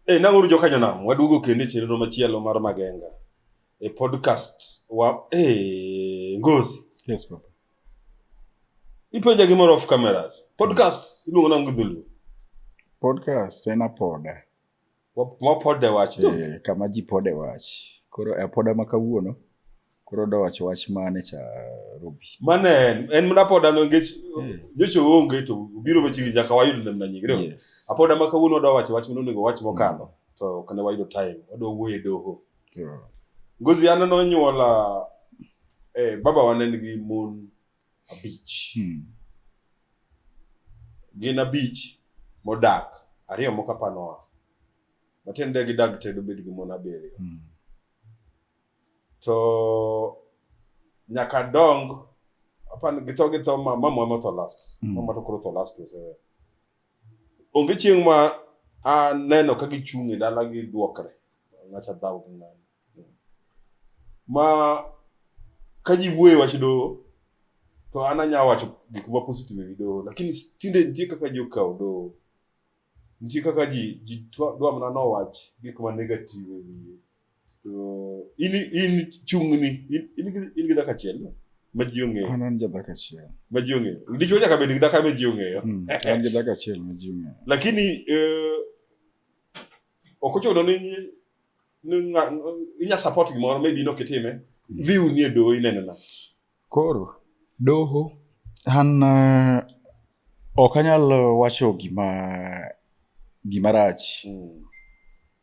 Hey, nang'uru joka nyanam waduogo kendo e chenro machielo mar magenga e podcast wa hey, ngozi yes papa ipenja gimoro off cameras podcast iluongo nango dhulu podcast en apoda wapode wach eh, kama ji pode wach koro e apoda ma kawuono Koro da wacho wach mane cha Ruby? Mane en en mna poda no ngech Yeah. nyocho onge to biro machiegni nyaka wayud ne mna nyingre. Yes. Apoda ma kawuono wadwa wacho wach mno nego wach mokalo to kane wayudo time wadwa wuoyo e doho. Koro, Ngozi an nonyuola eh, baba wa ne nigi mon abich. hmm. Gin abich modak ariyo moko apanoa. Matiende gidag te dobed gi mon abiriyo. Hmm. to nyaka adong apan githo githo ma mamwa motho last mm. mamwa to koro tho last osewe onge chieng' ma aneno ka gichung' e dala gi duokre ng'acha dhaw gi ng'ani ma ka ji wuoye wach doho to an anya wacho gik ma positive e wi doho lakini tinde nitie kaka ji okawo doho Nitie kaka ji ji twa- dwa mana no wach gik ma negative e wiye. To in in chung'ni in in gi- in gi dhako achiel no? ma ji ong'eyo An an jadhako achiel. ma ji ong'eyo. Dichwo nyaka bed gi dhako ma ji ong'eyo. Mm, An jadhako achiel ma ji ong'eyo. Lakini eh, ok ochuno ni ni ng'a- inya support gimoro maybe in ok itime. Dhi unie doho inenena. Koro doho an uh, ok anyal wacho gima gima rach mm.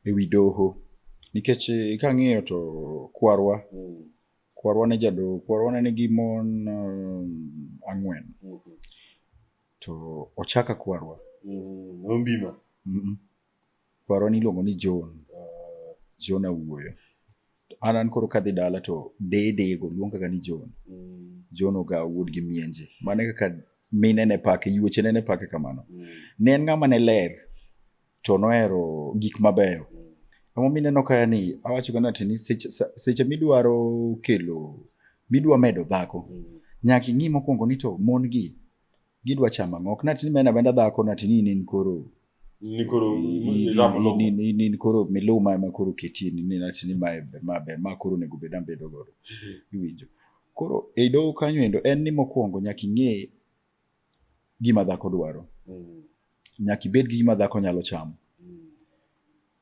ewi doho nikech eh, kang'iyo to kwarwa mm. kwarwa ne jadoho kwarwa ne nigi mon um, ang'wen mm -hmm. to ochaka kwarwa mm, ombima mm -mm. Kwarwa niluongo ni John. Uh, John Awuoyo. An an koro kadhi dala to dede go luonga ga ni John. Mm. John oga wuod gi mienje. Mane kaka mine ne pake, yuoche ne ne pake kamano. Mm. Ne en ng'ama ne ler to nohero gik mabeyo. Mm. Amo mineno kaya ni awacho gana ati ni seche, seche midwaro kelo midwa medo dhako. Mm. Nyaka ing'i mokwongo ni to mon gi gidwa chama ng'ok. Natini mena benda dhako natini nin koro ni koro irap lum ni ni ni koro miluma ema koro keti ni ni nati ni mae ber ma ber ma koro nego bed ambedo godo iwinjo koro e doho kanyo endo en ni mokwongo nyaka ing'e gima dhako dwaro Mm, nyaka ibed gi gima dhako nyalo chamo mm,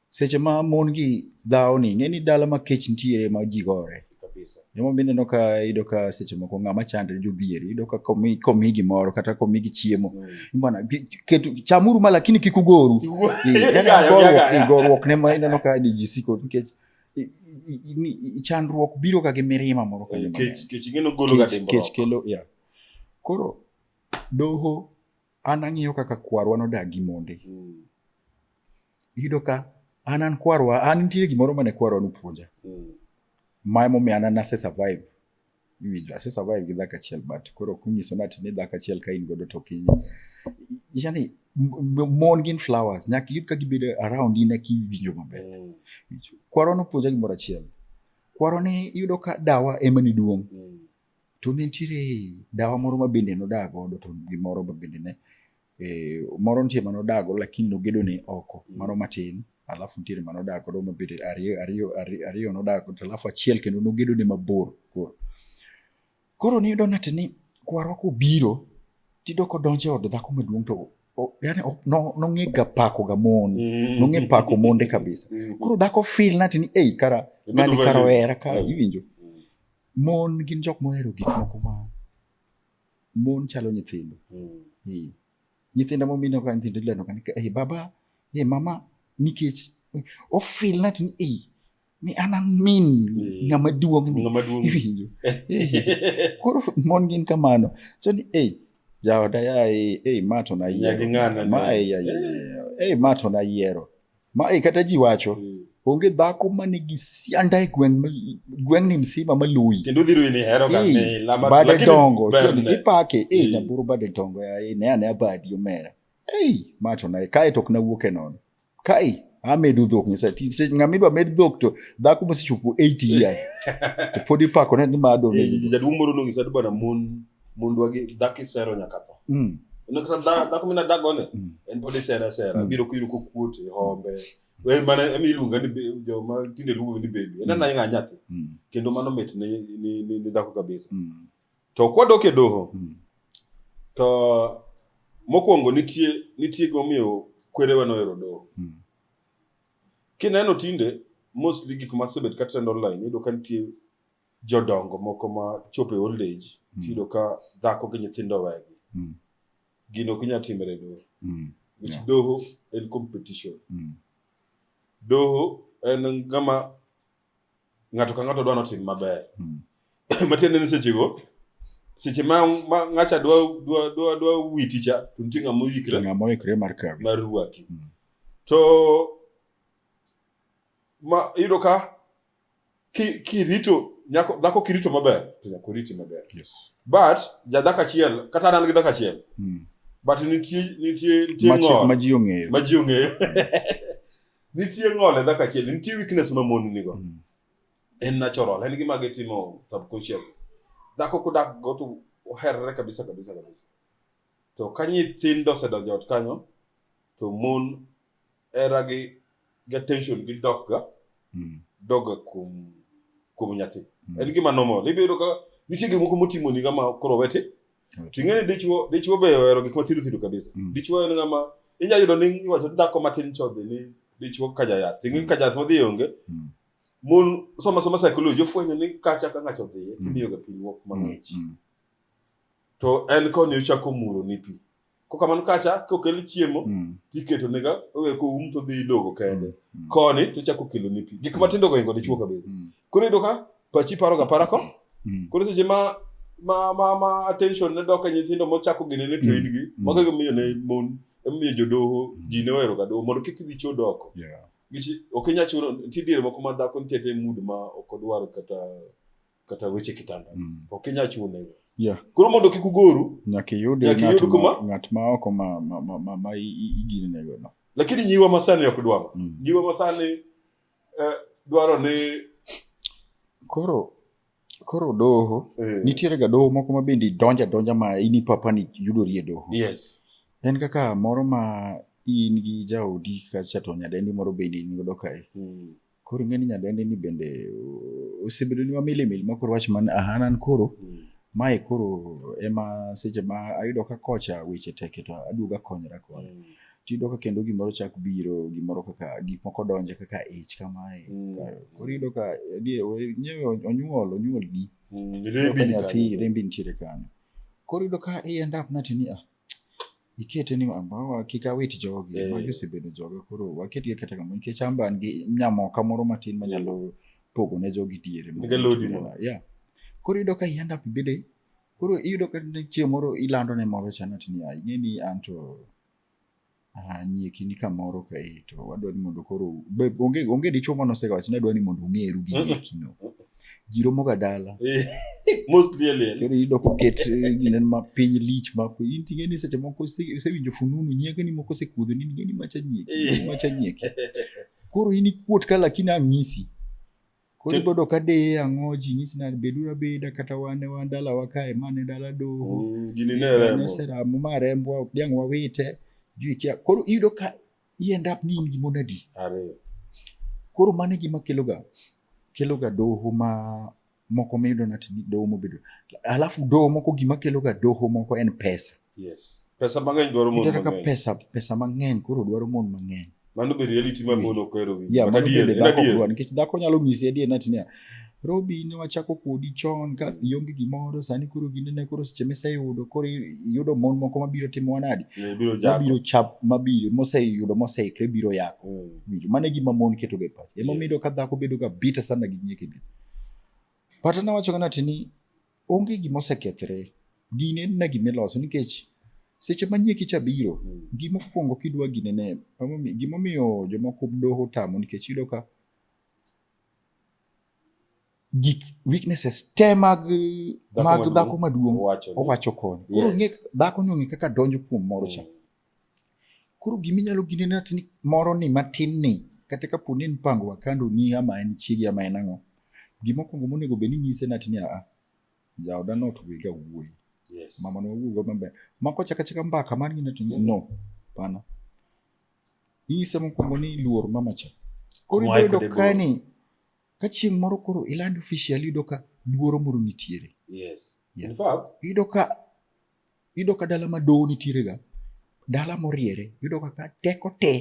Seche ma mon gi dhawo ni ng'e ni dala ma kech nitiere ma ji gore. Joma bende no ka ido ka seche moko ng'ama chandre jodhier ido ka komi komi gimoro kata komi gi chiemo mm. bana ketu chamuru ma lakini kik ugoru gorruok ne ma ineno ka di ji siko nikech chandruok biro ka gi mirima moro ka eh, kech ngeno golo ga dimbo kech kelo ya koro doho an ang'iyo kaka kwarwa nodag gi monde mm. Iyudo ka an an kwarwa an nitie gimoro mane kwarwa nopuonja mm. ma emomiyo an nase survive iwinjo ase survive gi dhako achiel but koro kunyiso ni ati ni dhako achiel ka in godo to kiny yani mon gin flowers nyaka iyud ka gibedo around in eki iwinjo maber mm. kwarwa nopuonja gimoro achiel kwarwa ne iyudo ka dawa ema ni duong' mm. to ne nitiere dawa moro ma bende nodaa godo to gimoro ma bende ne eh, moro nitie mane odago lakini nogedone oko mm. mano matin alafu nitiere mane odak godo mabedo ariyo ariyo ariyo nodak godo alafu achiel kendo nogedone mabor koro koro niyudo nati ni kwarwa kobiro tiyudo kodonjo e od dhako maduong' to yani nong'e ga pako ga mon mm. nong'e pako monde kabisa mm. koro dhako fil nati ni ei kara ng'ani kara ohera ka iwinjo mon gin jok mohero gik moko ma Mon chalo nyithindo. Mm. Eh, Nyithindo mo mino ka nyithindo ileno kan ka eh baba eh mama nikech eh, ofil nat ni eh mi an an min Eh. ng'ama duong ni. Ng'ama duong'. Iwinjo. Eh, Koro mon gin kamano. So ni eh jaoda ya eh eh ma to na Nyagi yiero. ng'ana Ma ne. eh ya ya. ya. Eh ma to na yiero. ma e kata ji wacho mm. onge dhako ma nigi sianda e gweng' ni msima ma luyi bade dongo ipake e mm. nyaburu bade dongo yaye ne ane abadi omera ei ma to naye kae to ok nawuok e nono kae amedu dhok nyasaye ng'ama idwa med dhok to dhako mosechopo 80 years to pod ipako ne ni ma adonjaduong' moro nong'isa ni bwana mon mondwa gi dhako isero nyaka tho mm. dhako mina dhagone mm. en pod isera sera mm. biro kuyudo kokuot e hombe e mana ema iluonga ni joma tinde luongo ni bebi en ananyanga mm. nyathi mm. kendo mano mit ni, ni, ni, ni dhako kabisa mm. to kwadok e doho mm. to mokwongo nitie nitie gimomiyo kwerewa nohero doho mm. kineno tinde mostly gik masebet katrend online iyudo ka nitie jodongo moko ma chopo e old age Mm. tiyudo ka dhako gi nyithindo wegi Mm. gino ok inyal timre e doho Mm. nikech Yeah. doho en competition Mm. doho en ngama ng'ato ka ng'ato dwa notim maber Mm. matiende ni sechego seche ma ma- ng'acha dwa dwa dwa dwa witi cha to nitie ng'ama To oyikre ng'ama oikre mar kawi mar rwaki Mm. to ma iyudo ka kirito nyako dhako kirito maber to nyako riti maber yes. but jadhako achiel kata an an gi dhako achiel mm. but nitie nitie nitie ng'ol ma ji ong'eyo ma ji ong'eyo nitie ng'ol e dhako achiel nitie weakness ma mon nigo mm. en natural en gima gitimo subconscious dhako kudak go to oherre kabisa kabisa kabisa to ka nyithindo osedonjo ot kanyo to mon era gi gi attention gi dok ga mm. dok ga kuom kuom nyathi mm. en gima normal ibiro yudo ka nitie gik moko motimo ni ngama koro wete to ing'e ni dichwo dichwo be ohero gik mathido thido kabisa mm. dichwo en ngama inyalo yudo ni iwacho ni dhako matin chodhi ni dichwo ka jayath ing'e ka jayath modhi onge mm. mon soma soma psychology ofwenyo ni kacha ka ng'ato odhiye mm. kimiyoga pinyruok mang'ich mm. mm. to en koni ochako muro ni pi kokamano kacha kokel chiemo mm. tiketo nega owe ko um to dhi idogo kende mm. mm. koni to chako kelo ni pi gik matindo go ingo dichuo kabisa mm. koro ido ka pachi paro ga para ko mm. koro seche ma ma ma ma attention ne doka nyithindo mo chako gine ne to ingi mm. mago go miyo ne mon emiyo jodoho ji ne ohero ga doho mondo kik dhi chuo doko yeah. gichi ok inya chuno ti dire moko ma dhako nitiere mood ma ok odwar kata kata weche kitanda mm. ok inyal chune yeah. koro mondo kik ugoru nyaka iyud ng'at ma oko ma, ma, ma, ma, ma iginenego no lakini nyiwa masani ok dwaro mm. nyiwa masani eh, dwaro ni koro koro doho eh. nitiere ga doho moko ma bende donja donja ma ini papa ni yudori e doho yes. en kaka moro ma in gi jaodi kacha to nyadendi moro bende in godo kae mm. Koro ing'e ni nyadendi ni bende osebedo ni wamilimili ma koro wach man ahanan koro mm. mae koro ema seche ma ayudo ka kocha weche teke to aduoga konyra kode. Mm. Tiyudo ka kendo gimoro chak biro gimoro kaka gik moko donje kaka ich kamae. Mm. Koro iyudo ka onyuol onyuol di. Mm. Rembi nitiere kanyo. Koro iyudo ka i end up natini ah ikete ni ambawa kik awit jogi Eh. magi osebedo joga koro waketgi kata kamano nikech amba an gi nyamoka moro matin manyalo pogo ne jogi diere Niga lodi mo. yeah. koro iyudo ka i end up ibede koro iyudo ka ne chieng' moro ilando ne moro chanat niya ing'e ni an to Ah, nyie kini kamoro kae to wadwa ni mondo koro be- onge onge dichuo mane osewacho ni adwa ni mondo ong'eru gi Mhm. nyekino ji romoga dala Most clearly. koro iyudo koket eh, gine ma piny lich ma ko- in ting'e ni seche moko ise- isewinjo fununu nyiegeni moko osekudho ni ning'e ni macha nyieki Eh. macha nyieki koro in ikuot ka lakini ang'isi Koro ibodo ka deye ang'o ji nyisi nade beduru abeda kata wan e wan dalawa kae mane dala doho Mm, gini ne remo noseramo ma rembwa ok diang' wawite jui kia koro iyudo ka iend up ni in gi mon adi ariyo koro mano e gima keloga keloga doho ma moko miyudo nati ni doho mobedo alafu doho moko gima keloga doho moko en pesa Yes. Pesa mang'eny dwaro mon mang'eny. Kaka pesa pesa mang'eny koro dwaro mon mang'eny. Mano be reality ma mon ok ero winjo. Yeah, mano be dhako dwaro nikech dhako nyalo nyisi adier nati niya Robi ne wachako kodi chon ka ionge gimoro sani koro ginene koro seche miseyudo koro iyudo mon moko mabiro timo wanadi mabiro chap mabiro moseyudo moseikre biro yako mm. mano e gima mon ketoga e pache emomiyo ka dhako bedoga bita sana gi nyekegi pata nawachoga nati ni Onge gima osekethre. Gini en na gima iloso nikech seche ma nyieki cha biro, mm. gima okuongo kidwa gine ne, gima omiyo jomoko doho tamo nikech iyudo ka gik weaknesses te mag mag dhako maduong' owacho koni. Koro ng'e dhako ni ong'e kaka donjo kuom moro cha. Mm. Koro gima inyalo gine ni atini moro ni matin ni kata ka poni en pango wakando ni ama en chiegi ama en ang'o. Gima okwongo monego bed ni inyise ni atini a jaoda no to wega wuoyi. Yes. Mama no wuoyi maber. Mako chaka chaka mbaka man gina to no. Pana. Inyise mokwongo ni luor mama cha. Koro ibedo ka ni ka chieng' moro koro iland official yudo ka luoro moro nitiere. Yes. Yeah. In fact, yudo ka Iyudo ka dala ma doho nitiere ga dala moriere, iyudo ka teko te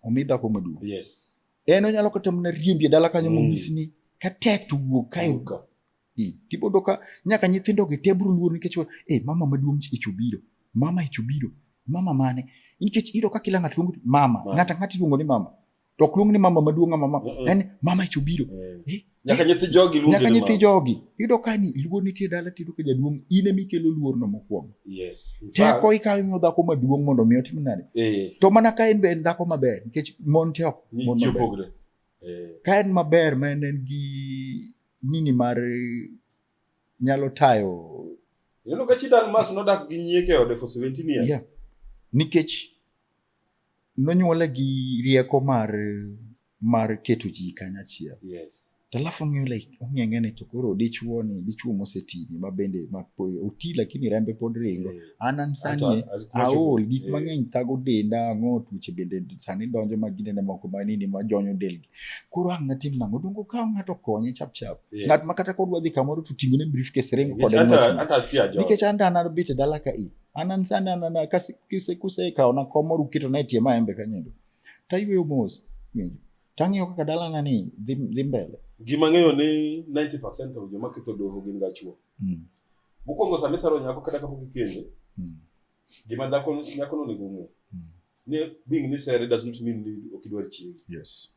omi dhako maduong'. Yes. En onyalo kata mana riembi e dala kanyo mm. monyis ni ka tek to wuog kae. Hmm. Tibodo ka nyaka nyithindo gi te biro luor nikech eh mama maduong' ich obiro. Mama ich obiro. Mama mane? Nikech iyudo ka kila ng'ato luongo mama. Ng'ata ng'ata iluongo ni mama. to ok luong ni mama maduong' ama mama en mama icho biro mm. eh, nyaka eh, nyithi jogi luongi nyaka nyithi jogi yudo ka ni luor nitie dala tiyudo ka jaduong' in ema ikelo luorno mokwongo yes teko ikawo imiyo dhako maduong' mondo mi otim nade eh. to mana ka en be en dhako maber nikech mon te ok mon maber ka en maber ma en en gi nini mar nyalo tayo Ineno ka chi Dalmas nodak gi nyieke ode for 17 years. Yeah. Nikech nonyuole gi rieko mar mar keto ji kanyachiel yes. alafu ong'eyo like ong'eyo ng'ene to koro dichuo ni dichuo mosetini ma bende ma oti lakini rembe pod ringo yeah. an an sani aol gik yeah. mang'eny thago denda ang'o tuoche bende sani donjo ma ginene moko ma nini ma jonyo delgi koro ang' natim nang'o dongo ka ng'ato konye chap chap yeah. ng'at ma kata kodwa dhi kamoro to ting'one briefcase ringo kode nikech an dana bete dala ka i anansani anana kasikise kuseka ona komo rukito na tie maembe kanyedo tayweyo mos winjo tang'iyo kaka dalana ni dhi dhi mbele ji mang'eyo ni 90% of joma ketho doho gin ga chwo mm. mokwongo sama isaro nyako kata kapok ikende mm. gima dhako nyako nonego ong'e mm. ni being ni sere does not mean ni ok idwar chiege yes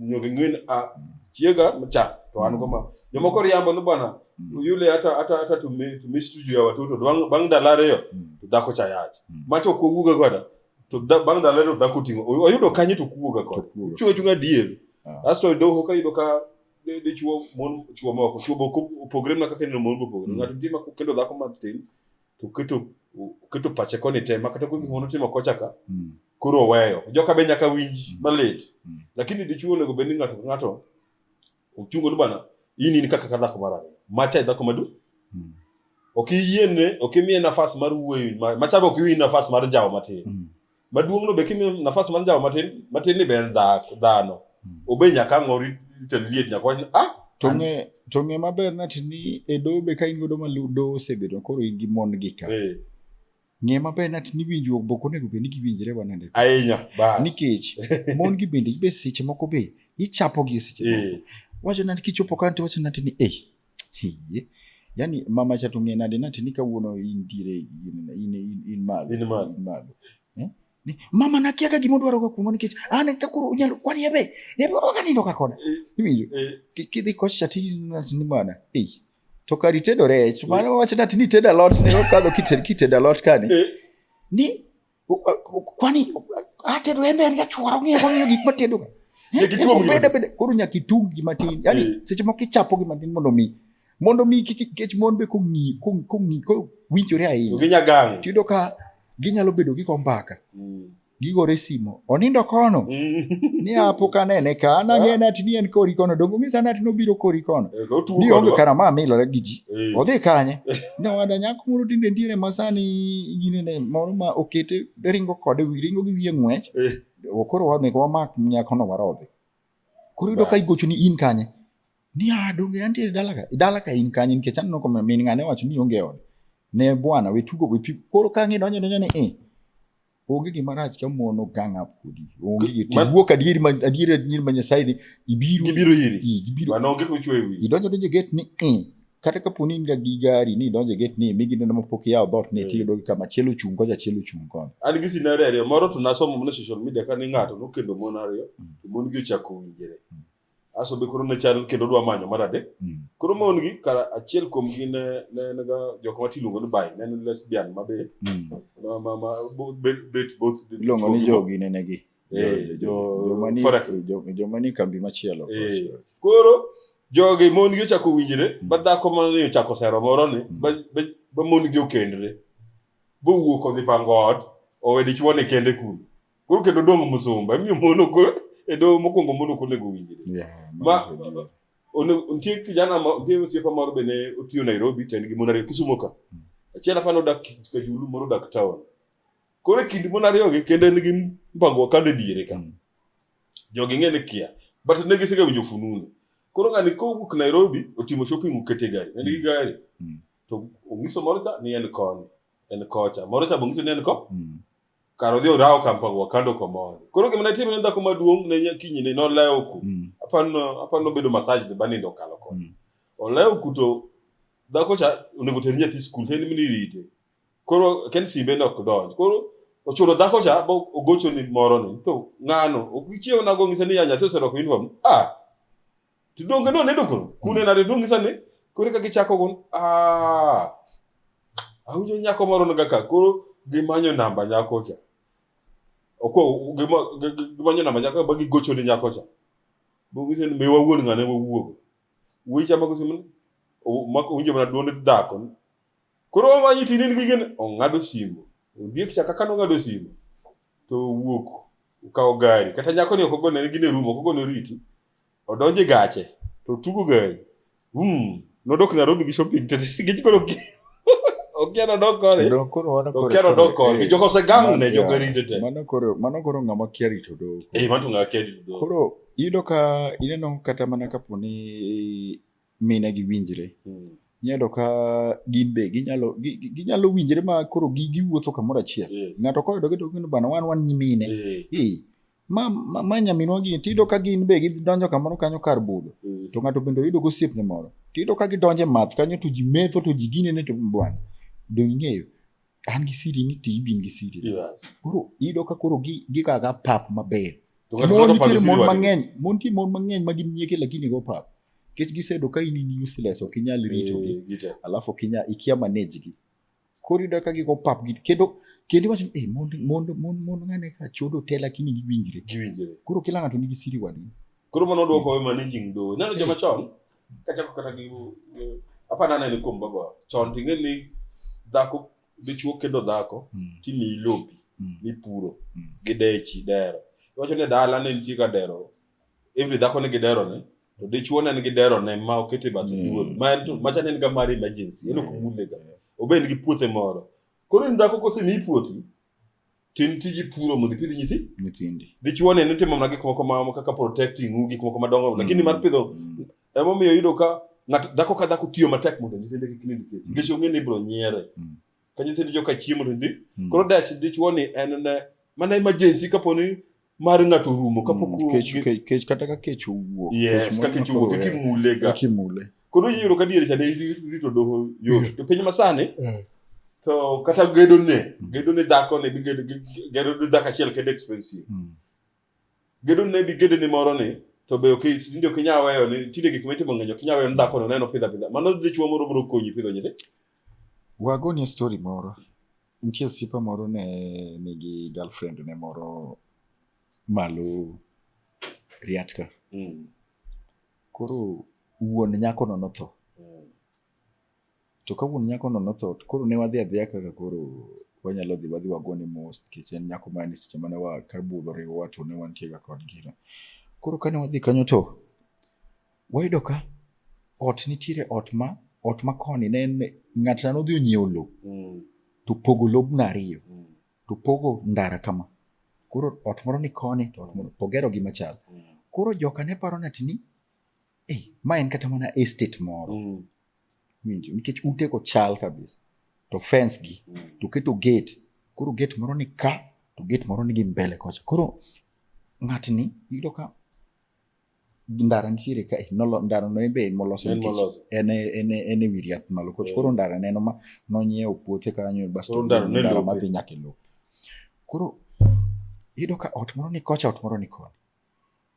ñoo ngi ngeen ah chiega mcha to an goma jomoko riambo ni bwana mm. yule hata hata hata to me to miss studio ya watoto bang bang dalare yo mm. to dako cha yaje mm. macho ko guga goda to da, bang dalare to dako tingo oyudo kanyi to kuga goda chuo chunga diel ah. asto do hoka yudo ka de de chuo mon chuo moko chuo boko program na kaka ni mon boko mm. ngati ndima kendo dako matin to keto keto pache koni te makata kuonde gik manotimo kocha ka Mm. koro oweyo joka be nyaka winj Mm. malit Mm. lakini dichuo onego bed ni ng'ato ka ng'ato ochungo ni bana in in kaka ka dhako mar ariyo macha e dhako madu Mm. ok iyiene ok imiye nafas mar wuoyo ma- macha be ok iwi nafas mar jawo matin Mm. maduong'no be kimiyo nafas mar njawo matin matin ni ber dhano hmm. obe nyaka ang'o ritel liet nyaka wach ah tong'e tong'e maber nati ni e doho be ka in godo ma doho osebedo koro in gi mon gi ka eh. ng'e maber nati ni winjruok boko onego bed ni giwinjre wanende ahinya bas nikech mon gi bende be seche moko be ichapo gi seche moko eh. wacho nati kichopo kanti wacho nati ni eh Hii. Yaani mama cha tung'e nade nati ni kawuono indire in in in, in malo. In malo. In malo. Eh? Ni, mama nakia ka gimo dwaro ka kumo nikech an ka koro unyalo kwani ebe. Ebe ka nindo ka kona. Eh, Iwinjo. Eh. Kidhi kocha ti ni mana. Eh. To kari tedo rech. Mano wacha nati ni tedo lot ne okadho kited kited lot kani. Eh. Ni Kwani atedo en en gachuora ng'eyo ng'eyo gik matedo. Nyakituom ng'eyo. Bende bende koro nyakitung gi matin. Yaani eh. seche moko ichapo gi matin mondo mi mondo mi kech mon be kong'i kong'i ko winjore ahinya. Ginya gang. Tiyudo ka ginyalo bedo gi kombaka. Mm. Gigore simo. Onindo kono. Mm. Ni apo kanene ka ana ah. ng'ena tini en kori kono dongo ng'isa nati nobiro kori kono. Eh, Ni onge karama milore gi ji. Eh. Odhi kanye. Nyawada nyako moro tinde nitiere masani ginene moro ma okete ringo kode ringo gi wiye ng'wech eh. koro wanego wamak nyakono warodhi koro yudo ka igocho ni in kanye ni ah, donge antiere dala ka dala ka in kanye nikech aneno ka min ng'ane wacho ni onge ode ne bwana we tugo we koro ka ng'e donjo donjo ni eh onge gima rach ka mon ogang up kodi onge gi tiwuok adieri ma adieri adieri ma nyasaye ni ibiro gibiro iri gibiro mano onge kuchwe wi idonjo donjo get ni eh kata kapo ni in ga gi gari ni idonjo get ni mi gineno ma pok iyawo dhoot ni eh. tiyudo gi kama chielo chung kocha chielo chung kono an gi scenario ariyo moro to nasomo mana social media ka ni ng'ato nokendo mon ariyo mm. to mon gi ochako winjre mm. aso be koro ne chal kendo dwa manyo mar adek mm. koro mon gi kara achiel kuom gi ne ne ne ga jok ma tiluongo ni bai ne ne lesbian ma be mm. ma ma ma bet both iluongo ni jogi ne negi eh, joma ni kambi machielo eh, koro jogi mon gi ochako winjre mm. ba dhako ma ne ochako sero moro ni ba mon gi okendre bowuok odhi pango ot owe dichwo ni kende kuno koro kendo dong' musumba emiyo mono koro e doho mokwongo mono ok onego owinjre ma nitie kijana nitie osiepa moro be ne otiyo Nairobi to en gi mon ariyo Kisumo ka hmm. achiel apa nodak Kajulu moro odak town koro e kind mon ariyogi kendo en gi mpango wakanda e diere ka hmm. jogi ng'e ni kia but ne gisega winjo fununu koro ng'ani kowuok Nairobi otimo shopping okete gari en gi hmm. gari to onyiso moro cha ni en koni en kocha moro cha bongiso ni en ko kar odhi orawo kampang wakando komoni koro gima natimo ne dhako maduong' ne nyakinyine nolewo ku mm. apano apano bedo massage de banindo kalo kod mm. olewo ku to dhako cha onego ter nyathi skul to en mini rite koro ken simbe ne ok donj koro ochuno dhako cha bo ogocho ni moro ni to ng'ano ok gichiew nago ng'ise ni ya nyathi oserwako uniform ah to donge no ne dokono kune hmm. nade donge sani koro ka gichako gon ah awinjo nyako moro no kaka koro gimanyo namba nyako cha oko gimanyo namba nyako ba gigocho ni nyako cha donge sani me wawuon ngane wawuogo wuyi cha mako simu mako winjo mana duonde dhako Koro omanyi tin in gi gene, ong'ado simo. Ondiek cha kaka nong'ado simo, to owuok okawo gari. Kata nyakoni ok ogone ne gine rumo, ok ogone oriti. Odonjo e gache, to otugo gari. Vum, nodok Nairobi gi shopping to nikech koro ok okia nodok kode, Kendo koro mano to koro- okia nodok koro- kode. eh, Jogo osegang ne, mano- jogo yeah, rite te. Mano koro mano koro ng'ama kia rito dogo. Eh, mano to ng'akia rito dogo. Koro iyudo ka ineno kata mana kapo ni mine gi winjre Mm. inyalo ka gin be ginyalo gi- gi- ginyalo winjre ma koro gi- giwuotho kamoro achiel Eh. ng'ato koyudo gi to gino bana wan wan nyimine Eh. Eh, ma ma- ma nyaminwa gini tiyudo ka gin be gidonjo kamoro kanyo kar budho Mm. to ng'ato bende oyudo gosiepne moro tiyudo ka gidonje math kanyo to ji metho to ji ginene to bwana donge ing'eyo an gi siri ni to ibin gi siri koro iyudo ka koro gigaga pap maber mon nitiere mon mang'eny mon nitie mon mang'eny ma gin nyieke lakini go pap nikech gisedo ka in in useless ok inyal eh, ritogi alafu ok inyal ikia manage gi koro iyudo ka gigo pap gi kendo kendo iwacho ni eh, mon mon mon mon ng'ane ka chodo te lakini giwinjre koro kila ng'ato nigi siri wadgi koro mano dwoko we managing do neno joma chon kacha ko kata gi gi- apana nene kuom baba chon tinge ni dhako dichuo kendo dhako Mm. timiyi lopi Mm. mipuro Mm. gi dechi dero iwacho ni dala ne nitie ka dero every dhako nigi dero ne to dichuo ne nigi dero ne ma okete bathe Mm. duol ma en to macha ne en ga mar emergency en ok mule ga obed gi puothe moro koro in dhako kosemiyi puothi Tim tiji puro mondo ipidh nyithi nyithindi. Dichuo ne nitimo mana gik moko ma kaka protecting u gik moko madongo mm. lakini mar pidho mm. ema omiyo yudo ka ng'ato dhako ka dhako tiyo matek mondo nyithinde kik nind kech. Nikech ong'e ni ibiro nyiere. Mm. Ka nyithindi joka chiemo to ndi. Mm. Koro dach dichuo ni en ne mana emergency kaponi mar ng'ato rumo kapok mm, kech kech kech kata ka kech owuok yes ka kech owuok kech mule ga kech mule koro yiro ka diere chane rito doho yot mm. to piny masani mm. to kata gedo ne gedo ne dhako ne bi gedo gedo ne dhako achiel kende expensive gedo ne bi gedo ne moro ne to be ok tinde ok inyal weyo ni tinde gik mitimo ng'eny ok inyal weyo ni dhako no neno pidha pidha mano dichwo moro biro konyi pidho nyithindo wagoni story moro Nitie osiepa moro ne nigi girlfriend ne moro malo riatka. Mm. Koro wuon nyakono notho. Mm. To ka wuon nyakono notho, koro ne wadhi adhiya kaka koro wanyalo dhi wadhi wagone mos nikech en nyako mane seche mane wa ka budho riwowa to ne wantiega kod gino. Koro kane wadhi kanyo to Wayudo ka ot nitiere ot ma ot ma koni ne en ng'at na nodhi onyiewo lowo mm. to pogo lobno ariyo mm. to pogo ndara kama koro ot moro ni koni to ot moro pogero gi machal mm. koro joka ne paro nati ni eh, ma en kata mana estate moro mm. winjo nikech ute ko chal kabisa to fence gi mm. to keto gate koro gate moro ni ka to gate moro ni gi mbele kocha koro ng'atni yudo ka ndara nitiere ka eh, nolo ndara no ebe en moloso nikech en en en e wir yath malo koch koro ndara neno ma nonyiewo puothe kanyo basto ndara madhi nyaka e lowo koro iyudo ka ot moro ni kocha ot moro ni koni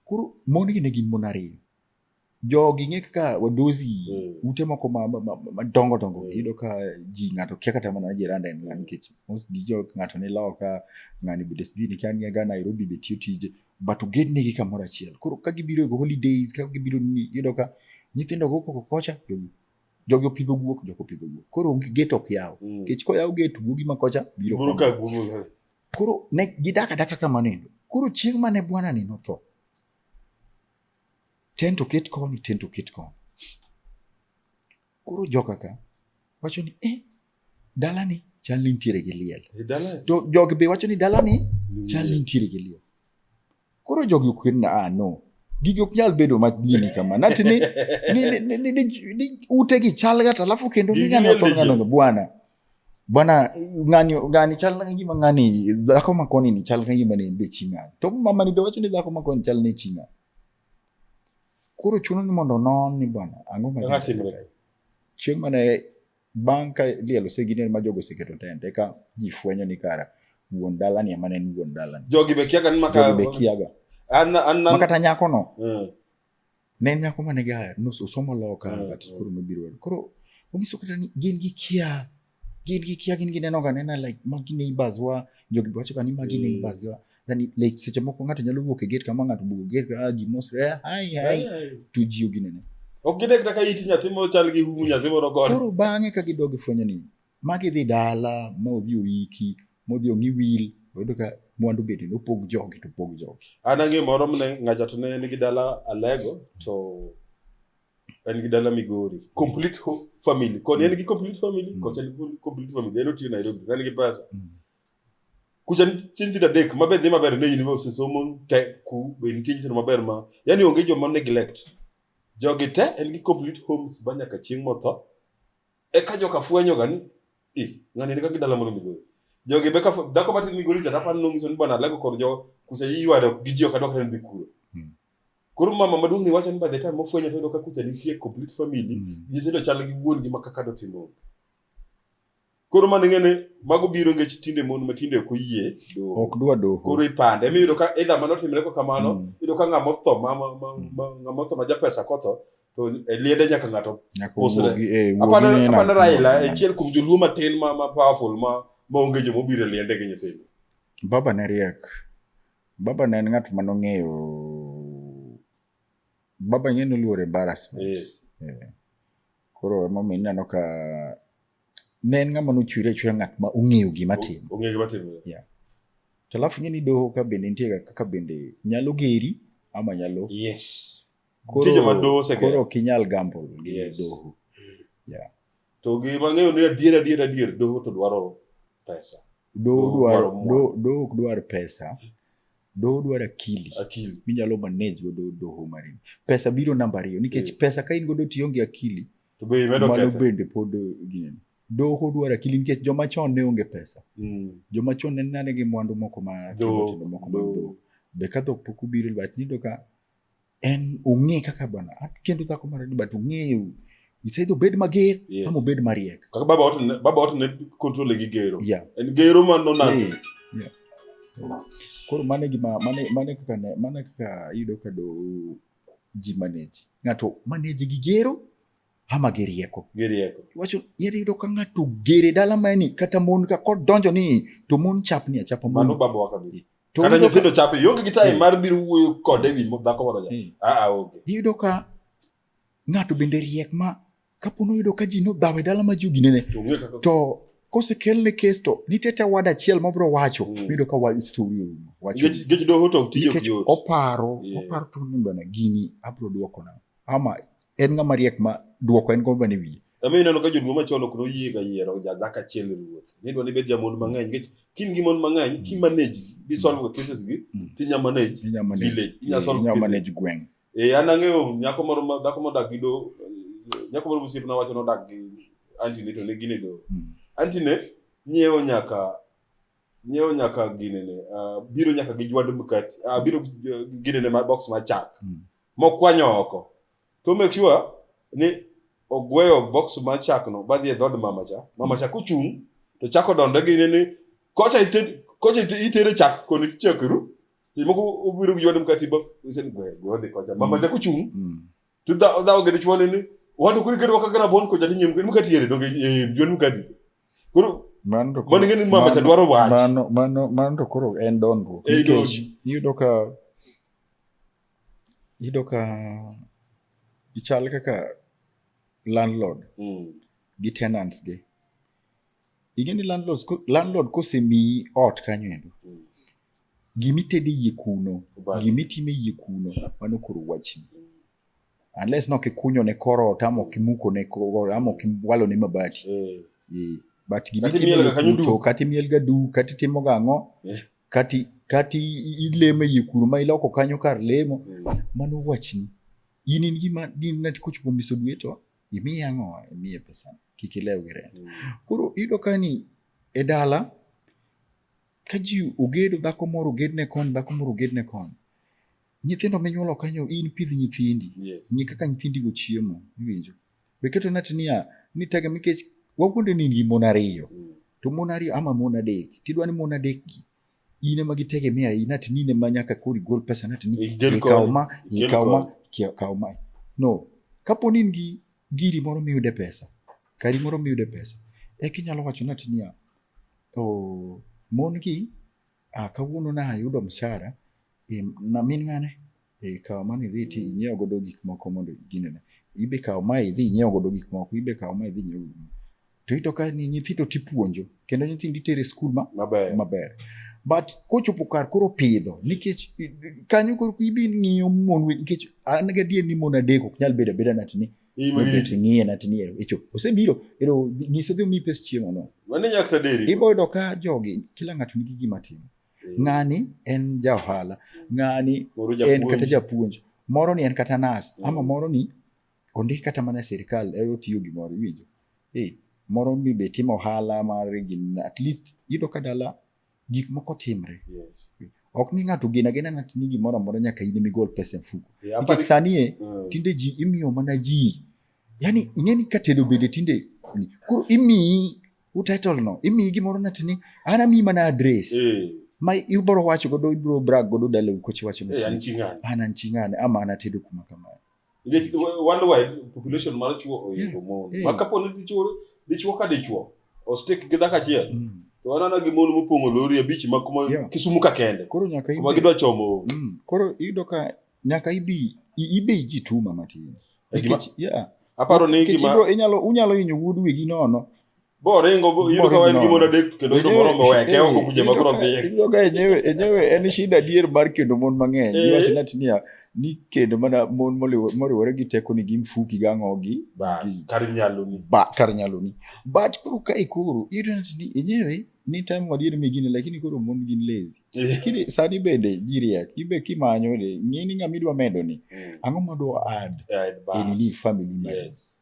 koro mon gi ne gin mon ariyo jogi ng'e kaka wadozi mm. ute moko madongo dongo mm. iyudo ka ji ng'ato kia kata mana jiranda en ng'ani mm. nikech most dijo ng'ato ne lawo ka ng'ani bede sijui nikia niga Nairobi be tiyo tije but ogednegi kamoro achiel. Koro ka gibiro e holidays, ka gibiro ni yudo ka nyithindo go koko kocha jogi jogi opidho guok, jogi opidho guok. Koro onge gate ok yaw. Mm. Kech koyaw gate guogi ma kocha biro. Biro ka guogi. Koro ne gidaka daka kamano endo. Koro chieng' mane bwana ni notho. Tent oket koni, tent oket koni. Koro joka ka wacho ni eh, dalani chal ni nitiere gi liel. Eh, to jogi be wacho ni dalani chal ni nitiere gi liel. Koro jogi ok na ah, no gigi ok nyal bedo madini kama nati ni, ni, ni, ni, ni, ni ute gi chal gata alafu kendo ni ng'ani otho ng'ano bwana bwana ng'ani ng'ani chal na gima ng'ani dhako makoni ni chal na gima ni be ching'ani to mama ni be wacho ni dhako makoni chal ni ching'ani Koro chuno ni mondo onon ni bwana ang'o ma Ang'o timre? kae? Chieng' mane bang' ka liel osegine ma jogo oseketo tent eka ji fwenyo ni kara wuon dalani ema ne en wuon dalani. Jogi be kiaga ni maka. Jogi be kiaga. An an Ma an. kata nyakono Mm. ne en nyako mane ga nos- osomo law kar Mm, but mm. koro nobiro. Koro onyiso kata ni gin gi kia gin gi kia gin gineno ga nena like magi neighbors wa jogi wacho ga ni magi mm. neighbors wa yani like seche moko ng'ato nyalo wuok e gate kama ng'ato bugo gate ka ah, ji mos re eh, hai hai to ji ogi nene ok gine kata ka iti nyathi moro chal gi humu nyathi moro gone koro bang'e ka gidogi fwenyo ni magi dhi dala ma odhi oiki ma odhi ong'i wil oyudo ka mwandu bende nopog jogi to pog jogi an ang'e moro mne ng'acha to ne nigi dala alego to en gi dala migori complete ho- family kod en gi complete family kod en gi complete family en otiyo nairobi en gi pesa kucha nitie nyithindo adek ma be dhi maber ne university somo te ku be nitie nyithindo maber ma yani onge joma neglect jogi te en gi complete homes ba nyaka chieng' motho eka joka fwenyoga ni i ng'ani ni kaka dala mono migori jogi be ka fu- dhako matin migori cha dapani nong'iso ni bwana alego kod jo kucha iywado gi ji ok adwar kata ni dhi kuro Koro mama maduong' ni wacho ni by the time mofwenyo to ka kucha nitie complete family, mm. nyithindo chal gi wuon gi makaka dotimo. Koro mano ng'ene mago biro ngech tinde mon ma tinde ok oyie doho. Ok dwa doho. Koro ipande. Emi yudo ka either mano timre ko kamano, mm. yudo ka ng'ama otho ma ng'ama otho ma japesa kotho to e liende nyaka ng'ato usre. Eh, Apana Raila, e chiel kuom joluo matin ma powerful ma onge jomobiro e liende gi nyithindo. Baba ne riek. Baba ne en ng'at ma nong'eyo baba ing'e noluor embarrassment. Yes. Yeah. Koro emomiyo ineno ka ne en ng'ama nochwere achwera ng'at ma ong'eyo gima timo. Ong'eyo gima timo. Yeah. To alafu ing'e ni doho ka bende nitie kaka bende nyalo geri ama nyalo. Yes. Koro, joma doho osegero. Koro ok inyal gamble gi yes. doho. Yeah. To gima ng'eyo ni adier adier adier doho to dwaro pesa. Doho Doho dwaro dwaro mwandu. do- doho ok dwar pesa. Doho dwaro akili. Akili. Minyalo manage godo doho marini. Pesa biro namba ariyo nikech Eh. pesa ka in godo to ionge akili To be imedo mano ketho. bende pod ginene. Doho dwaro akili nikech joma chon ne onge pesa. Mm. Joma chon ne nane gi mwandu moko ma Dhok, tindo moko ma dhok. dhok. Be ka dhok pok obiro but nido ka en ong'e kaka bana akendo dhako mar adi but ong'eyo isedhi obed mager Yeah. ama obed mariek kaka baba watu ne- baba watu ne control gi gero yeah. en gero ma no na Yeah. Yeah. koro mane gima mane mane kaka ne mane kaka yudo ka do ji manage ng'ato manage gi gero ama gi rieko geri yako iwacho yere yudo ka ng'ato gere dala mani kata mon ka kodonjo ni to mon chapni achapa mon mano baba wa kabisa To kata iyudo ka- nyithindo chape ionge gi time Mm. mar biro wuoyo kode ewi mo- dhako moro cha Mm. aa onge iyudo ka ng'ato bende riek ma kapo noyudo ka ji nodhawe dala ma ji oginene to ong'e kaka to kosekelne kes to nitie te wad achiel mabiro wacho Mm. miyudo ka wach story orumo wacho nikech nikech doho to tije ok nikech yot oparo Yeah. oparo to ni bana gini abiro dwoko nang'o ama en ng'ama riek ma dwoko en gomba ne wiye Omiyo ineno ka jodongo machon ok noyiega yiero jadhako achiel e ruoth. Nidwa ni ibed jamond mang'eny nikech kin gi mond mang'eny ki manage bi solve ga cases gi Mm. ti nya manage inya manage village inya solve inya cases. manage gweng' Eh an ang'eyo nyako moro ma dhako modak gi do eh, nyako moro mosiepna wacho nodak gi antine to ne gin e do. Mm. Antine nyiewo nyaka nyiewo nyaka ginene ah, biro nyaka gi jwand mkati ah, biro gi- gi ginene ma box ma chak Mm. mokwanyo oko to make sure ni ogweyo box ma chak no badhi e dhod mama cha mama cha kuchung to chako donde gi ni kocha ited kocha itere chak koni chakru ti moko obiro gi yodem katiba usen gwe gwe de kocha mama cha kuchung mm. to da da ogede chwone ni watu kuri kedo wakagara bon kocha ni nyemke mukati yere doge yon mukati kuru mano mano ngeni mama cha dwaro wach mano mano mano to koro en dondruok nikech iyudo ka Iyudo ka gichal kaka landlord mm. gi tenants gi. Ing'e ni landlords, landlord kosemiyi ot kanyo endo mm. gimitede yie kuno gimitime yie kuno mano koro wachni mm. unless no kikunyo ne kor ot ama okimuko ne kor ama okiwalo ne mabati mm. yeah. but gimitime yie kuno kata imielga du kata itimoga ang'o yeah. kati kati ilemo e kuru ma iloko kanyo kar lemo mm. mano wachni in in gima din na tikuch kuom miso dwe to imiye ang'o imiye pesa kik ilew gi rent mm. koro iyudo ka ni e dala ka ji ogedo dhako moro oged ne kony dhako moro oged ne kony nyithindo minyuolo kanyo in pidh nyithindi yes. ng'e kaka nyithindigo chiemo iwinjo Be keto nati niya, ni tega nikech wawuonde ni gi mon ariyo. Mm. To mon ariyo ama mon adek. Tidwa ni mon adek gi in ema gitegemea in nati ni ne ma nyaka kori gol pesa nati ni ikaw ma ikaw ma ikaw ma. No. Kapo ni gi giri moro miyude pesa. Kari moro miyude pesa. Eki nyalo wacho nati niya, oh, mon gi Ah, kawuono na ayudo msara e, na min ng'ane e, kawo mane idhi ti inyiewo godo gik moko mondo ginene ibe kawo ma idhi inyiewo godo gik moko ibe kawo ma idhi inyiewo godo to ito ka ni nyithindo tipuonjo kendo nyithindo itere skul ma maber, maber. but kochopo kar koro pidho nikech kanyo koro ibi ng'iyo mon nikech an gadier ni mon adek ok nyal bedo abeda natni ting'iye na ting'iye echo osebiro ero nyise dhi omi pes chiemo no mane nyak ta deri ibo yudo ka jogi kila ng'ato nigi gima timo eh. ng'ani en ja ohala ng'ani en kata japuonj moro ni en kata nas mm. ama moro ni ondik kata mana sirikal ero otiyo gimoro iwinjo eh moro ni be timo ohala mar at least yudo ka dala gik moko timre yes. ok ni ng'ato gen agena ng'ato ni gimoro amora nyaka in migol pesa e mfuko yeah, nikech sanie mm. tinde ji imiyo mana ji yani ing'eni ka tedo bende tinde koro imiyi utitle no imiyi gimoro nati ni an amiyi mana adres mm. ma ibro wacho godo ibro brag godo dala ukochi wacho ni eh, an an ching'ane ama anatedo kuma kamano nikech worldwide population mar chuo oidho mm. mon mm. ma kapo ni dichuo dichuo ka dichuo ostik gi dhako achiel mm. to wanana gi mon mopong'o lori abich ma kuma yeah. kisumu ka kende koro nyaka ibi, kuma gidwa chomo mm. koro iyudo ka nyaka ibi ibe ji tuma matin nikech yeah aparo ni gima inyalo unyalo inyo wuod wigi nono boringo yudo ka en gimoro adek kendo yudo moro moweke oko kuja ma koro dhiye yudo ka enyewe enyewe en shida adier mar kendo mon mang'eny eh. iwacho nati niya ni kendo mana mon moriwore gi teko ni gin fuki gi ang'o gi kar nyaloni ba kar nyaloni but koro ka ikoro yudo nati ni enyewe ni time wadier mi gini lakini koro mon gin lazy eh. lakini sani bende jiriak ibe kimanyo de ng'ini ng'ama idwa medo ni hmm. ang'o madwa add e nini family yes.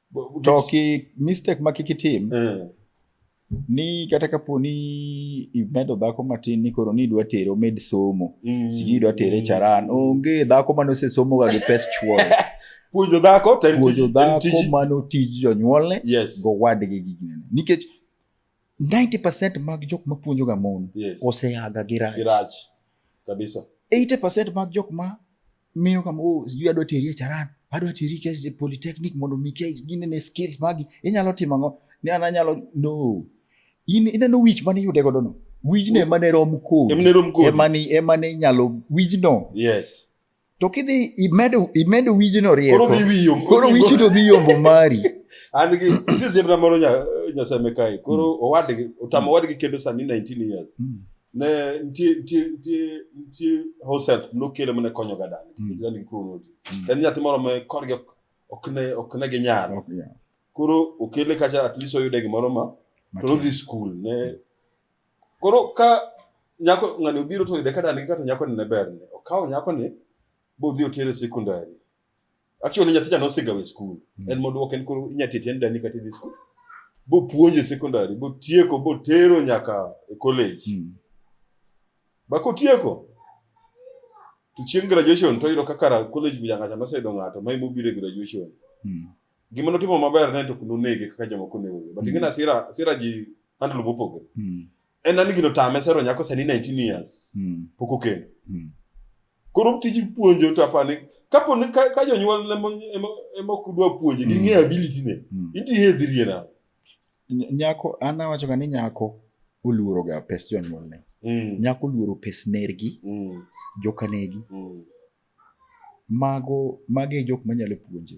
to ki mistake ma kik itim eh. ni kata kapo ni imedo dhako matin ni koro ni idwa tere omed somo mm. sijui idwa tere mm. charan onge dhako mane osesomoga gi pes chuore puonjo dhako puonjo dhako mano tij jonyuolne yes. gowadgi gi ginene nikech 90% mag jok ma puonjoga mon yes. oseaga gi rach, gi rach. kabisa 80% mag jok ma miyo kama oh, sijui adwa teri e charan adwa teri e polytechnic mondo mi kech ginene skills magi inyalo timo ang'o ne an anyalo no in ineno wich mane iyude godo no wijno ema ne rom kodi ema ne ema ne inyalo wijno yes to kidhi imedo imedo wijno rieko koro dhi yombo koro wijno dhi yombo mari an gi tizimna moro nya nyasame kai koro mm. owadgi otamo mm. owadgi kendo sani 19 years mm. ne nitie nitie nitie nitie hoset nokele mane konyoga dani Mm. mm. dani koro noti Mm. en nyathi moro ma korgi ok ok ne ok ne ginyal Ok, yeah. koro okele kacha at least oyude gimoro ma to Matin. nodhi skul ne koro ka nyako ng'ani obiro to oyude ka dani kata nyako ne berne okawo nyako ni bodhi otere sekondari Actually nyathi cha nosegawe skul. Mm. En modwok en koro inya tete en dani kata idhi skul. Bo puonje sekondari, bo tieko, bo tero nyaka e college. Mm. Ba kotieko to chieng' graduation to yudo kaka college bi nyaka noseyudo ng'ato ma imobiro e graduation. Mm. Gima notimo maber ne to kunonege kaka jomoko onegoge. But ing'e mm. na sira sira ji handle mopogore. Mm. en an gino tame sero nyako sani 19 years hmm. pok okendo hmm. koro tij puonjo to apani kapo ni ka jonyuol ema ok dwa puonje gi hmm. ng'eyo ability ne inti hedhirie na nyako an awacho ga ni nyako oluoro ga pes jonyuol ne nyako oluoro pes nergi jokanegi mago mage jok manyalo puonje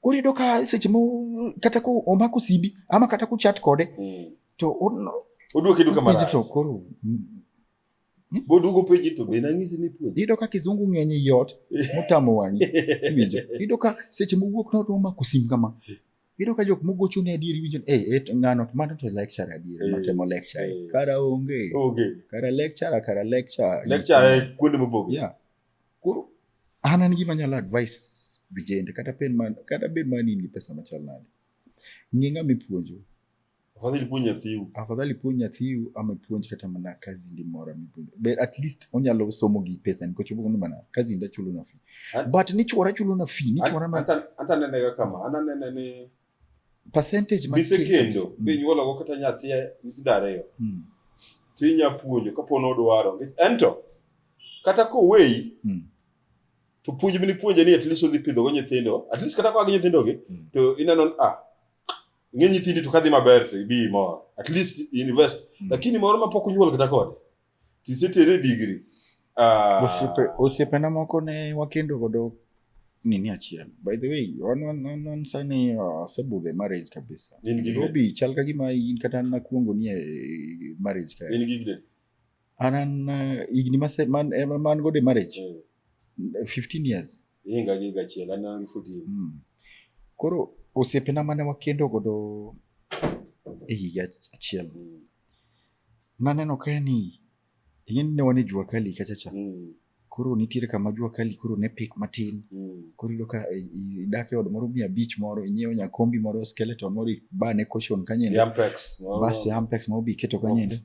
Koro iyudo ka seche mo kata ko omako simbi ama kata kuchat kode mm. to oduoke duka marach. To koro hmm? bodugo peji to be nang'isi ni puonj. Iyudo ka kizungu ng'eny ei ot motamo wang'i iwinjo. Iyudo ka seche mowuok no to omako sim kama. Iyudo ka jok mogocho ne adieri winjo eh hey, eh, ng'ano to mano to lecture adieri hey, eh, matemo lecture. Hey. Eh. Kara onge. Onge. Kara lecture kara lecture. Lecture kuonde mobogore. Yeah. Koro an an gima nyalo advice vijende kata pen man kata bed man in gi pesa machal nade. Ng'e ng'ama ipuonjo. Afadhali puonj nyathiu. Afadhali puonj nyathiu ama puonj kata mana kazi ndi mora mipuonjo. But at least onyalo somo gi pesa ni kochopo ni mana kazi ndi chulo na fee. But ni chwara chulo na fee, ni chwara ma. Ata ata nene kama, ana nene ni percentage ma mise kendo mm. be nyuolo go kata nyathi nyithindo ariyo mm. to inya puonjo kapo ni odwaro ento kata koweyi mm. to puonj mini puonje ni at least odhi pidho go nyithindo at least kata kwa gi nyithindo gi mm. to ineno ah ng'e nyithindi to kadhi maber to ibi mor at least invest mm. lakini moro ma pok onyuol kata kode Tisetere digri. Uh, osiepe osiepena moko ne wakendo godo nini achiel. By the way, wan wan wan, wan sani uh, sebudhe marriage kabisa. In gi Robi chal ka gima in kata nakuongo ni e marriage ka. In gi gde. Anan uh, igni mase man eh, man gode marriage. Mm. 15 years. Inga gi gachiel anan 14. Mm. Koro osiepena mane wakendo godo e higa achiel. Mm. Naneno kae ni ing'e ni ne wan e jua kali kacha cha. Mm. Koro nitiere kama jua kali koro ne pik matin. Mm. Koro iyudo ka i- i- idak e od moro mia abich moro inyiewo nyakombi moro skeleton moro ibane cushion kanyendo. Yampex. moro- Bas Ampex ma obi keto kanyendo.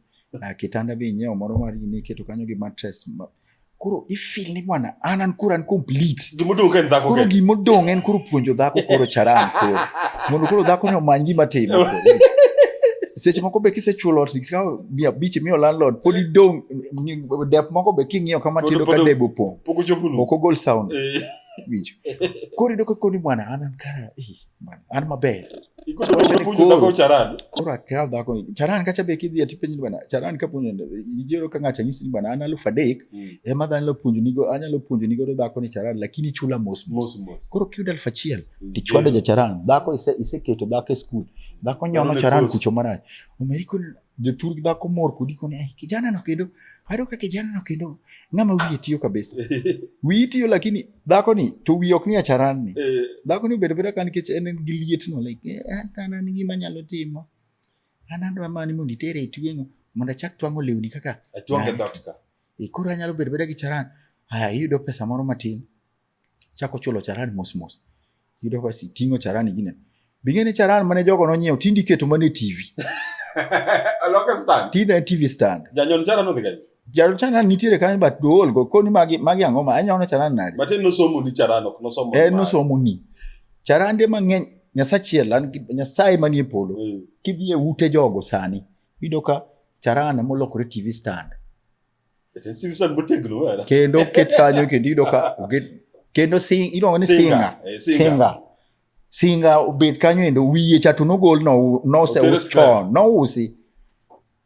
Ah, kitanda be inyiewo moro mar ine iketo kanyo gi mattress. ma- koro ifil ni bwana an an koro an complete gimodong en dhako koro gimodong en koro puonjo dhako koro charan koro mondo koro dhako ni omany gima timo seche moko be kisechulo ot ikawo mia abich imiyo landlord pod idong dep moko be king'iyo kama tindo ka debe opong' ok ogol sound eh. winjo koro ido kakoni bwana an an kara eh. an maber koro akaw dhako charan kacha be kidhi ati penjo bana charan ka puonjo ijero ka ng'acha nyisi bana an alufu adek mm. ema dha anyalo puonjo nigo anyalo puonjo nigo dhako ni charan lakini chula mos mos koro kiyud alufu achiel mm. tichwado ja charan dhako ise iseketo dhako e skul dhako nyono charan kucho marach omeri kun jothur gi dhako mor kodi koni "Ai, kijana no kendo ayudo ka kijana no kendo ng'ama wiye tiyo kabisa wiyi tiyo lakini dhako ni to wiye ok ni acharan ni Eh, dhako ni obedo beda ka nikech en gi liet no like "Eh, an an an gima anyalo timo an adwa mani mondo itere e tweng'o mondo achak twang'o lewni kaka atwange Right. dhotka e, koro anyalo bedo beda gi charan aya iyudo pesa moro matin Chako chulo charan mos mos. Yudo ka si tingo charan gine. Bingene charan mane jogo nonyiew tindi keto mane TV. Aloka stand. Tinde TV stand. Janyon charan odhi gani. Jalo chana nitiere kanyo but duol go koni magi magi ang'o ma anyono charan nade. But no somo ni charan ok no somo. Eh no somo ni. Charan de mang'eny nyasachiel an nyasaye manie polo. Mm. Kidhi e ute jogo sani. Yudo ka charan molokore TV stand. Ete sibisa buteglu wala. Kendo ket kanyo kendo yudo ka oget kendo sing iluongo ni singa. Eh, singa. Singa obet kanyo endo wiye cha to nogol no nose us chon no usi.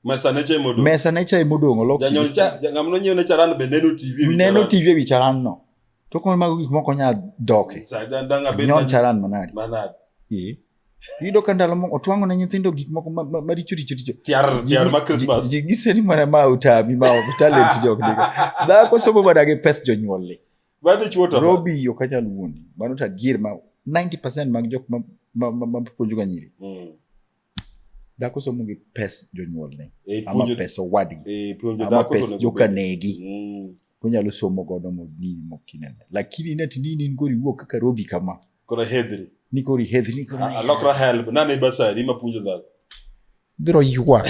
Mesa ne cha modong. Mesa ne cha modong olok. Janyol cha ngamno nyiew ne charan be neno TV. Neno TV e wi charan no. To kon mago gik moko nya doke. Sa dan danga be. Nyon charan manadi. Manadi. Eh. Yudo ka ndalo moko otwang'o ne nyithindo gik moko maricho richo richo. Tiar tiar ma Christmas. Ji gise ni mana ma utabi ma ok talent jok diga. Dhako somo mana gi pes jonyuol le. Bado chuota. Robi yo kanyal wuondi. Mano ta gir ma 90% mag jok ma ma ma puonjo ga nyiri. Mm. Dhako somo gi pes jonyuol ne. E, ama pes owadgi. E, puonjo dhako to nego. Ama pes jokanegi. Mm. Kunyalo somo godo mo nini mokinene. Lakini neti nini ngori wuok kaka Robi kama. Kora hedhri. Ni kori hedhri ni kora. Alokra help. Nani basari ma punjo dhako. Biro yuak.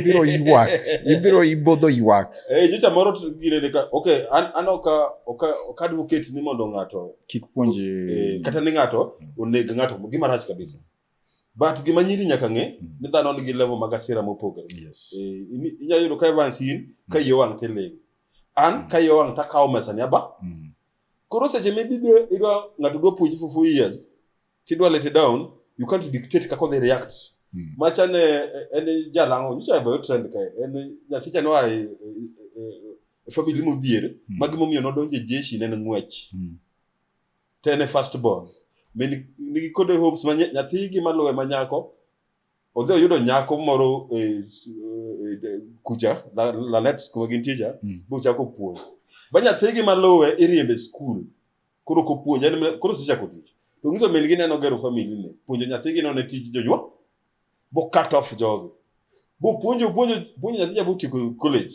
Biro yuak. Ibiro ibodo yuak. Eh, jicha moro gire ne ka. Okay, an ano ka oka oka advocate ni mondo ngato kik puonje. Eh, kata ni ngato oneg ngato gima rach kabisa. But gima nyiri nyaka ng'e mm. ni dhano nigi level mag asira mopogore. Yes. Eh, inyalo yudo ka Evans in ka mm. yo wang' tiling. An mm. ka yo wang' takawo mesa ni aba. Mm. Koro seche mi bibe idwa ng'ato dwa puonji for four years tidwa let it down you can't dictate kaka odhi react mm. macha ne en jalang'o nyicha e bayo trend kae en nyathicha noa e, e, e family modhier mm. ma gimomiyo nodonjo e jeshi ne en ng'wech mm. to en e first born nigi kode hopes ma nyathigi maluwe ma nyako odhi oyudo nyako moro e, e, kucha la- lanet kuma gintie cha Mm. bochako puonj ba nyathigi maluwe iriembe e skul koro kopuonj en mana- koro sechako tich to nyiso min gi neno gero famili ne puonjo nyathigi none tij jonyuol bo cut off jogi bopuonjo puonjo puonjo nyathi cha botieko college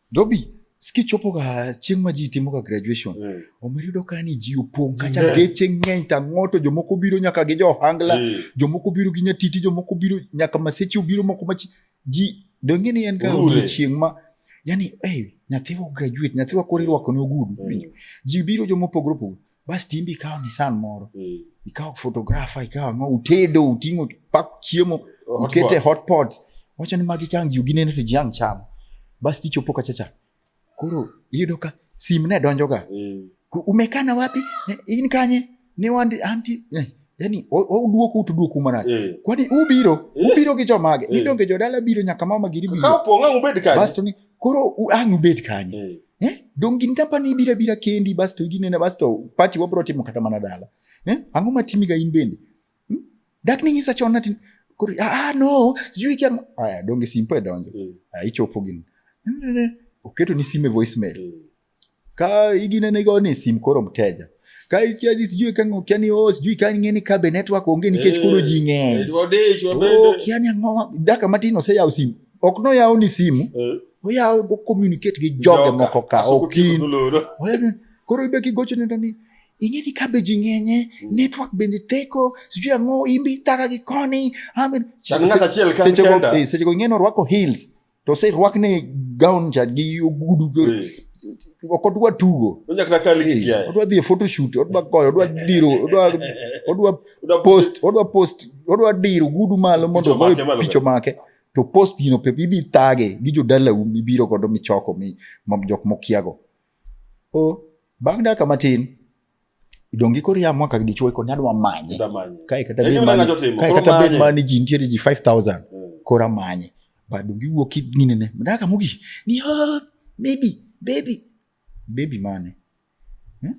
Dobi, skichopo ga chieng' ma ji timo ga graduation mm. omer yudo ka ni ji opong' kacha yeah. geche ng'eny ta ng'oto jomoko biro nyaka gi johangla mm. jomoko biro gi nyatiti jomoko biro nyaka maseche obiro moko machi ji donge ni en ga odiochieng' ma yani hey, nyathiwa graduate nyathiwa koro irwako ne ogudu mm. ji biro jomopogore opogore Bas timbe ikawo Nissan moro. Mm. Ikawo photographer, ikawo ang'o, utedo, uting'o, pak chiemo, ukete hot pot. Wacho ni magi kang' ji ginene to ji ang' chamo. Bas tichopo kacha cha. Koro iyudo ka sim ne donjoga. Mm. Umekana wapi? In kanye? Ne wandi anti. Eh, yani oduoku to duoku marach eh. kwani ubiro eh. ubiro gi jomage eh. ni donge jodala biro nyaka mama giri biro ka opong' ang' ubed kanye basto ni koro ang' ubed kanye Eh? Donge gin company bira bira kendi basto ginena basto party wabro timo kata mana dala. Eh? Ang'o matimi ga in bende? Hmm? Dak ni ng'isa chon natin kuri ah, ah no sijui kia aya donge simpo e donjo. Mm. Ah, ichopo gin. Oketo ni sime voicemail. Mm. Ka iginene go ni sim koro mteja. Kaitiadi sijui kango kiani o oh, sijui kani ngeni kabe network onge nikech eh, koro ji ng'eny. Eh, oh, kiani ang'o daka matin oseyawo simu. Ok noyawo ni simu. Eh. Oyawo go communicate gi joge moko ka okin. Koro ibe kigocho nenda ni ing'e ni kabe ji ng'enye mm. network bende theko sijui ang'o imbi thaka gi koni. Seche go ing'e ni orwako heels. to se rwakne gown cha gi ogudu ok odwa tugo odwa dhi e photoshoot odwa goyo odwa diro odwa odwa post odwa post odwa diro ogudu malo mondo ogoy picho make to post gino pepe ibi thage gi jodalau mibiro godo michoko mi jok mokiago o bang' dakika matin dongi koro ya mwaka dichuo koni adwa manye kae kata bed mani kae kata bed mani ji nitiere ji 5000 eh. kora manye ba dongi wuok nini ne mdaka mugi ni ha ah, baby baby baby mane hmm?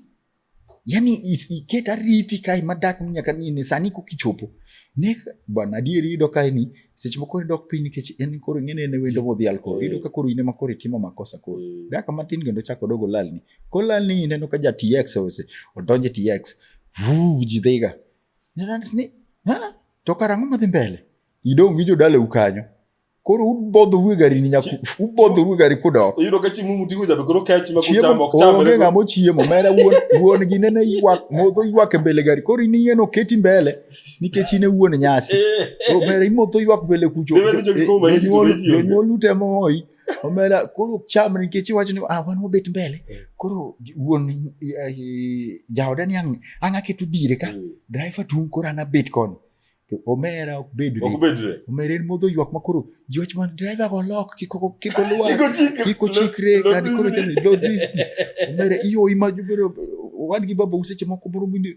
yani iket ariti kae madak nyaka nini sani kukichopo ne bwana adieri yudo kae ni seche moko ne dok piny nikech en koro ing'e ni en wendo modhial koro eh. yudo ka koro in ema koro itimo makosa koro eh. daka matin kendo chako dogo lalni Kola ni ineno ka ja TX ose odonje TX. Vu ji dhiga. Nena ni ha to karang'o madhi mbele? Idong' gi jodala ukanyo. Koro ubodho uwe gari ni nyaku ubodho uwe gari kudo. Iyudo ka chimu mutingo jabe koro kech ma kuchamo ok chamo. Onge ng'amo chiemo mera wuon wuon gi nene ywak modho ywak e mbele gari koro in ing'eno keti mbele nikech in e wuon nyasi. Koro mera imodho ywak mbele kucho. Jonyuol jonyuol utemo hoyi. omera koro cham nikech iwacho ni ah, wan wabet mbele mm. koro wuon eh, jaoda ni ang' ang' aketo dire ka mm. driver tung' koro an abet koni omera ok bedre omera en modho ywak ma koro ji wach man driver go lok kik olwar kik ochikre kani koro lodis omera iyoyi ma wan gi baba useche moko moro mine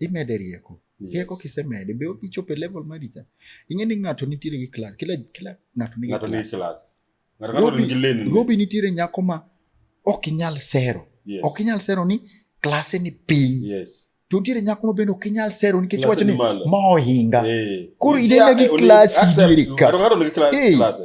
imede rieko rieko kisemede be odhi chopo e level mari cha ing'e ni ng'ato nitiere gi class kila kila ng'ato nigi ng'ato nigi class ng'ato ng'ato nigi lane robi nitiere nyako ma ok inyal sero ok inyal sero ni klase ni piny yes to nitiere nyako ma bende ok inyal sero nikech wacho ni ma ohinga eh. koro inene gi klasi diere ka ng'ato ng'ato nigi klase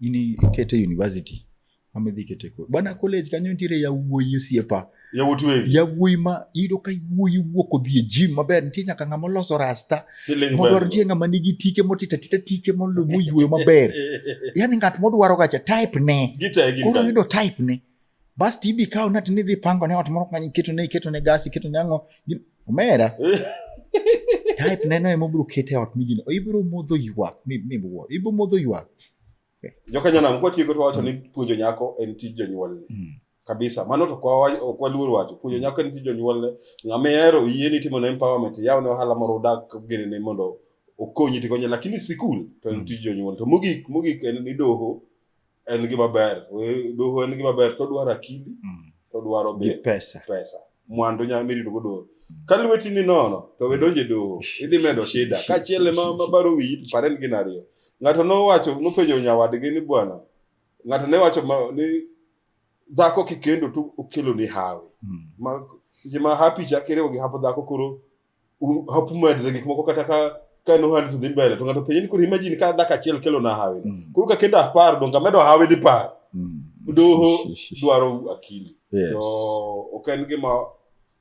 ini kete university amidhi kete ko bana college kanyo nitiere yawuoyi osiepa yawuoyi wegi yawuoyi ma iyudo ka iwuoyi wuok odhi e gym maber nitie nyaka ng'ama oloso rasta modwaro nitie ng'ama nigi tike motita tita tike moyueyo maber yani ng'at modwaro gacha type ne koro yudo type ne Bas to ibi kawo nati nidhi pango ne ot moro kanyo iketo ne iketo ne gas iketo ne ang'o omera type neno ema obiro kete ot mijini ibiro modho ywak miwuo ibiro modho ywak jokanyanam kwatieko to wacho ni puonjo nyako en tij jonyuolne mm. kabisa mano to ok waluor wacho puonjo nyako en tij jonyuolne ng'ama ihero yie ni timo na empowerment yaw ne ohala moro udak gene ne mondo okonyi tikonye lakini sikul to en mm. tij jonyuol to mogik mogik en ni doho en gima ber We- doho en gima ber to dwaro akili Mm. to dwaro Gi be pesa. pesa mwandu nya mirito go doho ka lweti ni nono to we donje doho idhi medo shida kachiel ma mabaro wiyi to paren gin ariyo ng'ato nowacho nopenjo nyawadgi ni bwana ng'ato ne wacho ma- ni dhako kikendo to okelo ni hawi Mm. ma seche ma hapi cha kiriwo gi hapo dhako koro un- hap umedre gik moko kata ka ka en ohandi to dhi mbele to ng'ato penye ni koro imagine ka dhako achiel kelo na hawi Mm. koro ka kendo apar donge amedo hawi dipar Mm. doho dwaro akili Yes. to ok en gima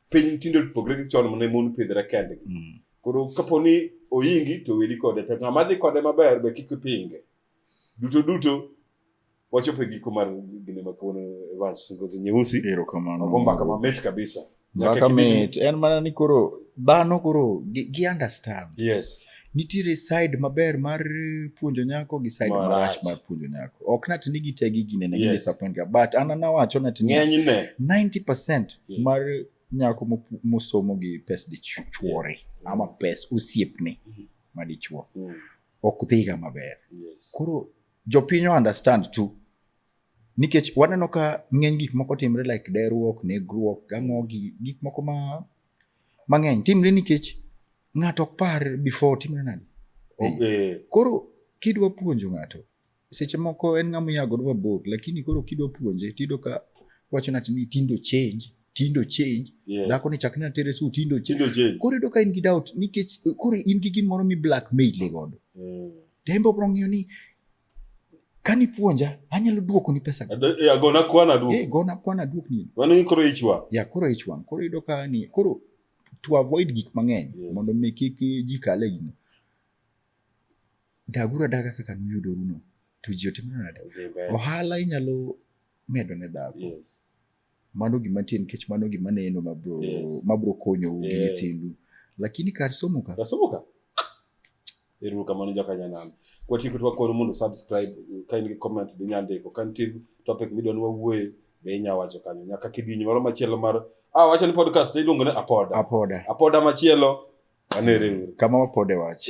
piny tinde opogre gi chon mane mon pidhre kendgi Mm. koro kapo ni oyingi to weli kode to ng'ama dhi kode maber be kik ipinge duto duto wachope giko mar gine ma kawuono Evans Ngozi Nyeusi. Erokamano. Mago mbaka mamit kabisa. Mbaka mit en mana ni koro dhano koro gi, gi understand. Yes. Nitiere side maber mar puonjo nyako gi side Marach. marach mar puonjo nyako. Ok nati ni gitegi gine na Yes. disappoint ga but ana nawacho nati ni Ng'enyne. 90% Yeah. mar nyako mopu- mosomo gi pes dichuore ama pes osiepne madichuo Mm. ok dhiga maber. Yes. Koro Jopiny understand too nikech waneno ka ng'eny gik moko timre like deruok negruok gang'o gi gik moko ma mang'eny timre nikech ng'ato ok par before timre nadi okay. koro kidwa puonjo ng'ato seche moko en ng'ama iyago dwa bor lakini koro kidwa puonje tido ka wacho nati ni tindo change tindo change yes. dhako ni chakne atere su tindo change koro ido ka in gi doubt nikech koro in gi gimoro mi blackmail godo mm. To en be obiro ng'iyo ni kani puonja anyalo duoko ni pesa eh, agona kwana duok eh gona kwana duok ni wan ni koro ich wang ya koro ich wang koro ido ka ni koro to avoid gik mang'eny yes. mondo mi kik ji kale gino dagura daga kaka nuyudo runo to ji otimo nade ohala inyalo medo ne dhako yes. mano gima nitie nikech mano gima neno mabro yes. mabro konyo gi nyithindu lakini kar somo ka kar somo ka Ero kamano jakanyanam. Kwa tiku twa kono mundo subscribe, kain ki comment bi nyande ko kan tib topic midwa nwa wuoye be inya wacho kanyo. Nyaka kidinyi maro machielo mar ah wacho ni podcast iluongo ne apoda. Apoda. Apoda machielo. Anere. Kama wapode wach.